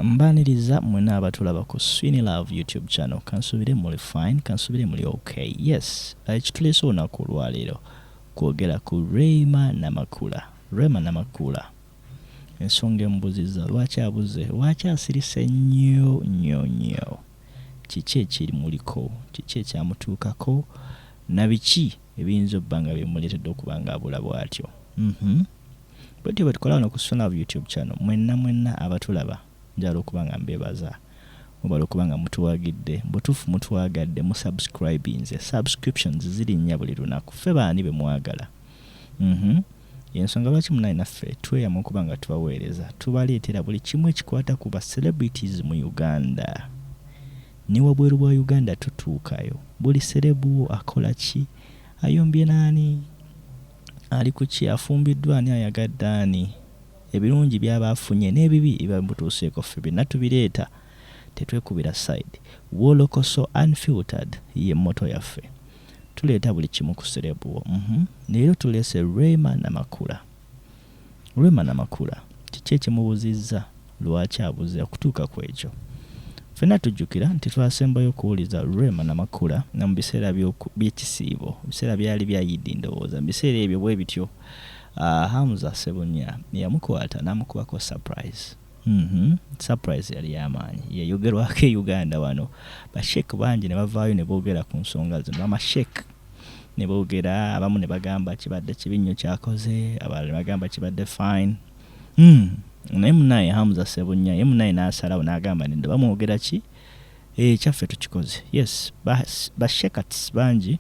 Mbaniriza mwena abatulaba ku Swini Love YouTube channel kansubire muli fine kansubire muli ok yes ekitulese olunaku olwaleero kwogera ku Rema Namakula Rema Namakula ensonga emubuziza lwaki abuze lwaki asirise nnyo nnyo nnyo kiki ekirimuliko kiki ekyamutuukako na biki ebiyinza obba nga bimuleetedde okuba nga abula bwatyo mm -hmm. bwetyo bwetukola wano ku Suna Love YouTube channel mwenna mwenna abatulaba njagala okuba nga mbebaza mubala okuba nga mutuwagidde butuufu mutwagadde mu subscribinze subscriptions zirinnya buli lunaku ffe baani bemwagala mhm yensonga lwaki munaye naffe tweyama okuba nga tubaweereza tubaleetera buli kimu ekikwata ku ba celebrities mu uganda ne wabweru bwa uganda tutuukayo buli serebuwo akola ki ayombye naani Ali ku ki? Afumbiddwa ani? Ayagadde ani? Ebirungi by'aba afunye n'ebibi ebiba bimutuuseeko ffe byonna tubireeta, tetwekubira side. Wolokoso Unfiltered ye motto yaffe. Tuleeta buli kimu ku sereebu wo. Uhmm. Leero tuleese Rema Namakula. Rema Namakula kiki ekimubuzizza lwaki abuze okutuuka ku ekyo? Ffenna tujjukira nti twasembayo okuwuliza Rema Namakula nga mu biseera by'ekisiibo, ebiseera byali bya Yidi ndowooza, mu biseera ebyo bwe bityo Hamza Ssebunya yamukwata n'amukubako surprise. Mhm surprise yali yamaanyi yeyogerwako e Uganda wano bashek bangi nebavaayo nebogera ku nsonga zino bamashek nebogera abamu nebagamba kibadde kibi nnyo kyakoze abalala nebagamba kibadde fine mm. naye munaye Hamza Sebunya ye munaye nasalawo nagamba nedda bamwogera ki ekyaffe eh, tukikoze yes bashekats bangi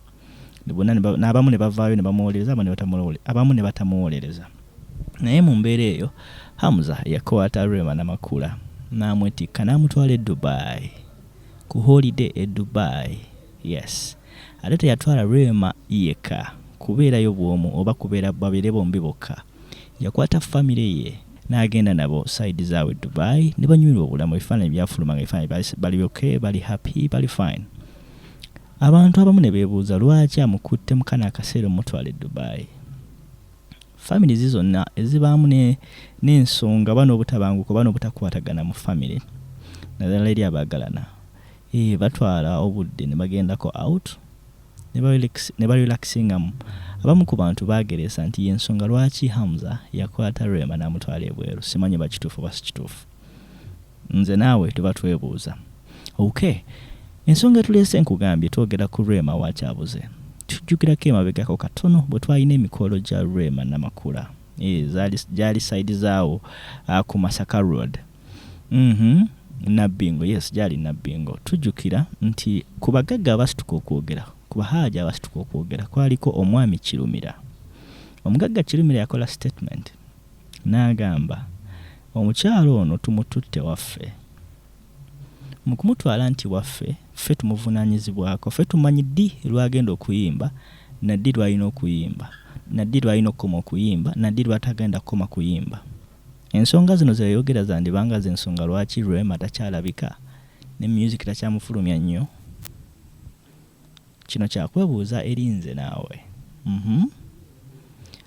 n'abamu ne bavaayo ne bamuwolereza abamu ne batamuwolereza abamu ne batamuwolereza naye mu mbeera eyo hamza yakwata rema namakula n'amwetikka n'amutwala e dubai ku holiday e dubai yes ate teyatwala rema yekka kubeerayo bwomu oba kubeera babeere bombi bokka yakwata famire ye n'agenda nabo saidi zaabwe dubai ne banyumirwa obulamu ebifaananyi byafuluma nga ebifaananyi bali byoke bali happy bali fine Abantu abamu ne beebuuza lwaki amukutte mu kano akaseera omutwala e Dubai. Families zonna ezibaamu n'ensonga oba n'obutabanguko oba n'obutakwatagana mu famire naddala eri abaagalana eh, batwala obudde ne bagendako out ne barelaxingamu abamu ku bantu baageresa nti y'ensonga lwaki Hamza yakwata Rema n'amutwala ebweru simanyi oba kituufu oba si kituufu. Nze naawe tuba twebuuza. Ok. Ensonga etuleese nkugambye twogera ku Rema wa Kyabuze. Tujjukirako emabegako katono bwe twalina emikolo gya Rema Namakula. Eh, zaali gyali side zaawo ah, ku Masaka Road. Mhm. Nabbingo, yes gyali Nabbingo. Tujjukira nti ku bagagga abasituka okwogera, ku bahaaji abasituka okwogera kwaliko omwami Kirumira. Omugagga Kirumira yakola statement. N'agamba, Omukyala ono tumututte waffe. Mu kumutwala nti waffe, ffe tumuvunaanyizibwako. Ffe tumanyi ddi lw'agenda okuyimba, na ddi lw'alina okuyimba, na ddi lw'alina okukoma okuyimba, na ddi lw'atagenda kukoma kuyimba. Ensonga zino ze yayogera zandiba nga ze nsonga lwaki Rema takyalabika, ne myuziki takyamufulumya nnyo. Kino kyakwebuuza eri nze naawe. Mhm.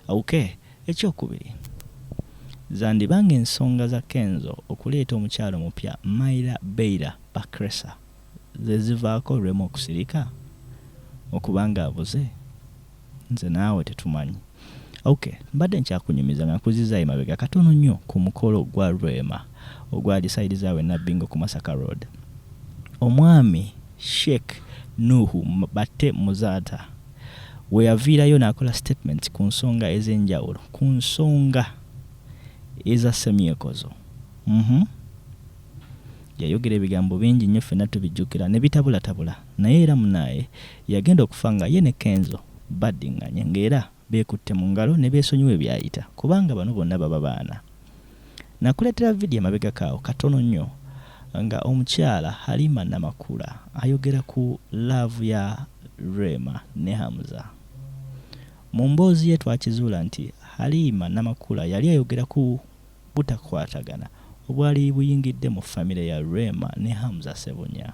Ok, ekyokubiri. Zandiba ng'ensonga za Kenzo okuleeta omukyala omupya Myla Beira Bakresa ze zivaako Rema okusirika? Okuba ng'abuze? Nze naawe tetumanyi. Ok, mbadde nkyakunyumiza nga nkuzzizza emabega katono nnyo ku mukolo gwa Rema ogwali side za we Nabbingo ku Masaka Road. Omwami Sheikh Nuhu Batte Muzaata we yaviirayo n'akola statement ku nsonga ez'enjawulo ku nsonga eza Ssemyekozo. Mhm. Yayogera ebigambo bingi nnyo ffenna tubijjukira ne bitabulatabula naye era munaaye Yagenda okufa nga ye ne Kenzo baddinganye ng'era beekutte mu ngalo ne beesonyiwa ebyayita kubanga bano bonna baba baana. Nakuleetera vidiyo emabegako awo katono nnyo nga omukyala Halima Namakula ayogera ku laavu ya Rema ne Hamza. Mu mboozi ye twakizuula nti Halima Namakula yali ayogera ku butakwatagana obwali buyingidde mu famire ya Rema ne Hamza Ssebunya.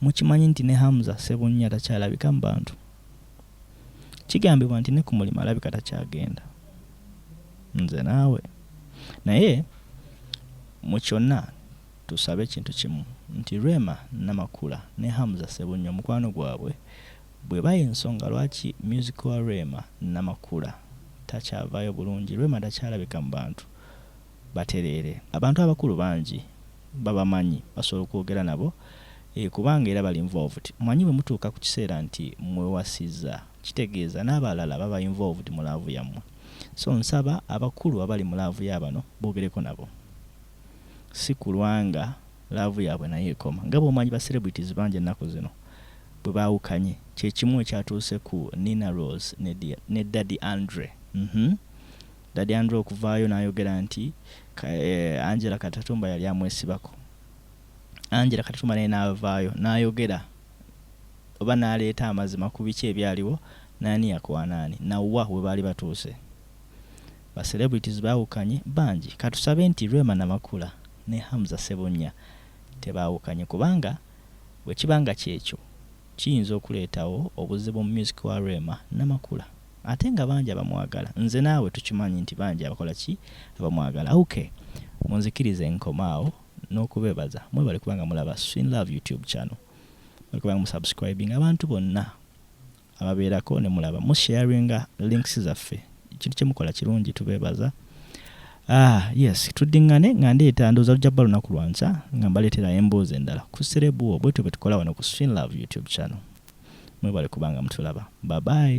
Mukimanyi nti ne Hamza Ssebunnya takyalabika mu bantu? Kigambibwa nti ne ku mulimu alabika takyagenda. Nze naawe. Naye mu kyonna tusabe kintu kimu nti Rema Namakula ne Hamza Ssebunnya omukwano gwabwe bw'eba y'ensonga lwaki myuziki wa Rema Namakula takyavaayo bulungi, Rema takyalabika mu bantu, batereere. Abantu abakulu bangi babamanyi basobola okwogera nabo eeh kubanga era bali involved. Omanyi bwe mutuuka ku kiseera nti mwewasizza kitegeeza n'abalala baba involved mu laavu yammwe. So nsaba abakulu abali mu laavu ya bano boogereko nabo si kulwa nga laavu yaabwe nayo ekoma. Nga bw'omanyi ba celebrities bangi ennaku zino bwe baawukanye kye kimu ekyatuuse ku Nina Roz ne Daddy Andre uhmm. Daddy Andrew okuvaayo n'ayogera nti Angela Katatumba yali amwesibako. Angela Katatumba naye n'avaayo n'ayogera oba n'aleeta amazima ku biki ebyaliwo n'ani yakwana ani na wa we baali batuuse. Ba celebrities baawukanye bangi. Ka tusabe nti Rema Namakula ne Hamza Ssebunnya tebaawukanye kubanga bwe kiba nga ky'ekyo kiyinza okuleetawo obuzibu mu myusiki wa Rema Namakula. ate nga bangi abamwagala nze naawe tukimanyi nti bangi abakola ki abamwagala ok munzikirize nkomaawo n'okubebaza mwebale kubanga mulaba swin love youtube channel mwebale kubanga musubscribing abantu bonna ababeerako ne mulaba musharinga links zaffe ekintu kyemukola kirungi tubebaza Ah, yes tuddingane nga ndeeta ndooza lujja bba lunaku lwanca nga mbaleetera emboozi endala ku serebuwo bwetyo bwe tukola wano ku swin love youtube channel mwebale kubanga mutulaba babayi